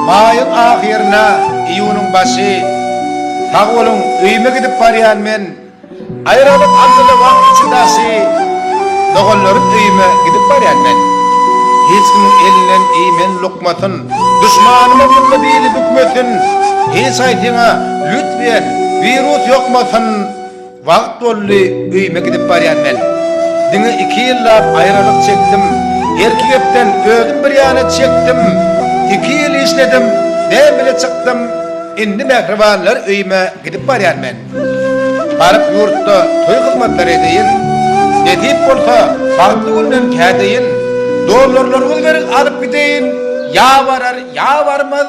Maýyň ahyryna iýunyň başy Sag boluň öýüme gidip barýan men Aýralyk aldyly wagt içi daşy Doganlarym öýüme gidip barýan men Hiç kimiň elinden iýmen lukmatyn Duşmanymam ýylly bili bükmesin Hiç aýtyňa lütfýen wirus ýokmasyn. Wagt boldy öýüme gidip barýan men. Diňe iki ýyllap aýralyk çekdim. Erki gepden özüm bir ýana çekdim. Iki ýyl işledim, näbile çykdym. Indi mähribanlar öýüme gidip barýan men. Baryp ýurtda toý hyzmatlary edeýin. Nesip bolsa bagtly günden kädeýin. Dollarlaryňyzy beriň alyp gideýin. Ýa barar, ýa barmaz.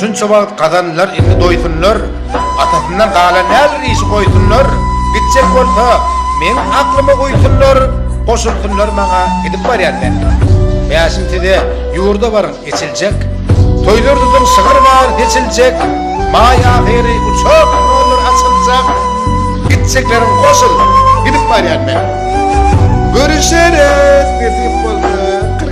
Şunça wagt gazanlar indi doýsunlar, Atasyndan galan näzir işi goýsunlar, Gitjek bolsa, meň aklyma uýsunlar, Goşulsynlar maňa gidip barýan menden. Bäşim size, ýurda baryň, eçiljek, Toýlar tutuň, şygyr bar, seçiljek, Maý ahyry uçak nollar açyljak, Gitjekleriň goşul, gidip barýan menden. Görüşeris, nesip bolsa.